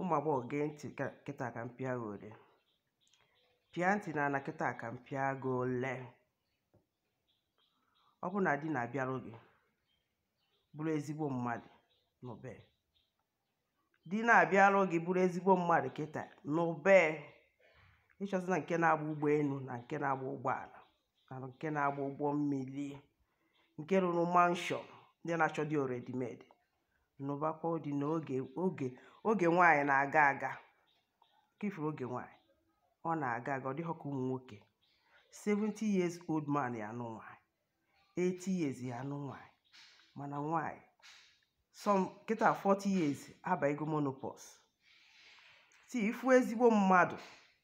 ụmụ agbọghọ gee ntị ka- kịta ka m pịa gị ole pịa ntị na ala kịta ka m pịa gị ole ọ bụ na di na-abịarụ gị bụrụ ezigbo mmadụ nụbe di na-abịarụ gị bụrụ ezigbo mmadụ kịta nụbe ị chọzina nke na-agba ụgbọelu na nke na-agba ụgbọala na nke na-agba ụgbọ mmiri nke rụrụ mansion ndị na-achọ di already made nụbakwa di na oge oge oge nwaanyị na-aga aga ka ị fụrụ oge nwaanyị ọ na-aga aga ọ dịghọ ka ụmụ nwoke 70 years old man ya anụ nwaanyị 80 years ya anụ nwaanyị mana nwaanyị some kịta 40 years abaigo menopause so ị fụ ezigbo mmadụ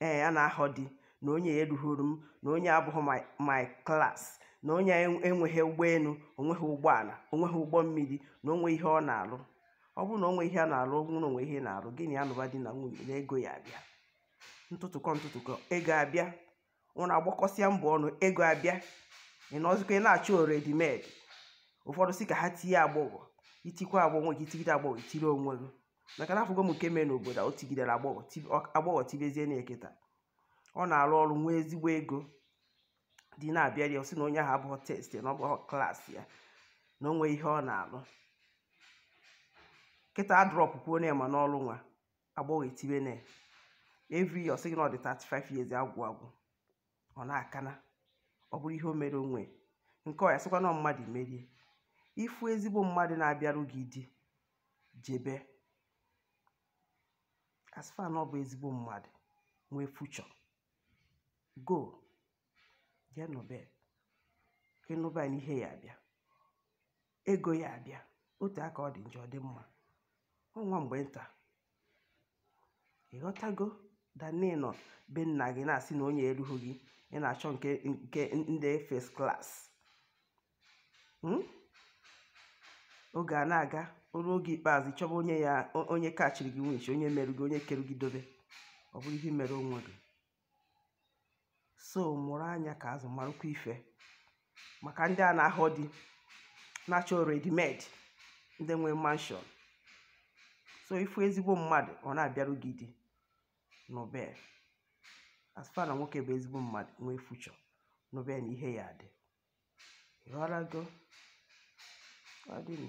ee a na-ahọ di na onye erughịrị m na onye abụghị my my class na onye en- enweghị ụgbọelu o nweghị ụgbọala o nweghị ụgbọ mmiri na o nwe ihe ọ na-alụ ọ bụrụ na o nwe ihe a na-alụ ọ bụrụ na o nwe ihe ị na-alụ gị na ya nụba di na nwunye na ego ya-abịa ntụtụkọ ntụtụkọ ego abịa ụnụ agbakọsịa mbọ ọnụ ego abịa ị nọzikwa ị na-achọ already made ụfọdụ sị ka ha tie agbọghọ i tikwa agbọghọ gị i tigide agbọghọ i tiri onwe gị maka na afụgo m nke mee n'obodo a o tigidere agbọghọ ti- ọ- agbọghọ tibezie na kịta ọ na-alụ ọrụ nwee ezigbo ego di na-abịarị ọ sị na onye ahụ abụghọ taste na ọ bụghọ class ya na o nwee ihe ọ na-alụ kịta a drọpụkwuo na ma n'ọrụ nwa agbọghọ etibe na every year ọ sị gị na ọ dị 35 years agwụ agwụ ọ na-aka na ọ bụrụ ihe o mere onwe nke ọ ya-asịkwa na mmadụ merie ị fụ ezigbo mmadụ na-abịarụ gị di jebe as far na ọ bụ ezigbo mmadụ nwee future go jee nụbe ka ị nụba ya na ihe ya-abịa ego ya-abịa o tee aka ọ dị njọ ọ dị mma ọ nwa mgbe nta ị ghọtago than ị nọ be nna gị na-asị na onye erughị gị ị na-achọ nke nke ndị first class Hmm? oge a na-aga o ruo oge ikpeazụ ị chọba onye ya o- onye kachiri gị nwunchi onye merụ gị onye kere gị dobe ọ bụrụ ihe i mere onwe gị so mụrụ anya ka azụ marụkwa ife maka ndị a na-ahọ di na-achọ already made ndị nwere mansion so ị fụ ezigbo mmadụ ọ na-abịarụ gị di nụbe as far na nwoke bụ ezigbo mmadụ nwee future nụbe na ihe ya-adị ị ghọtago ọ dịnụ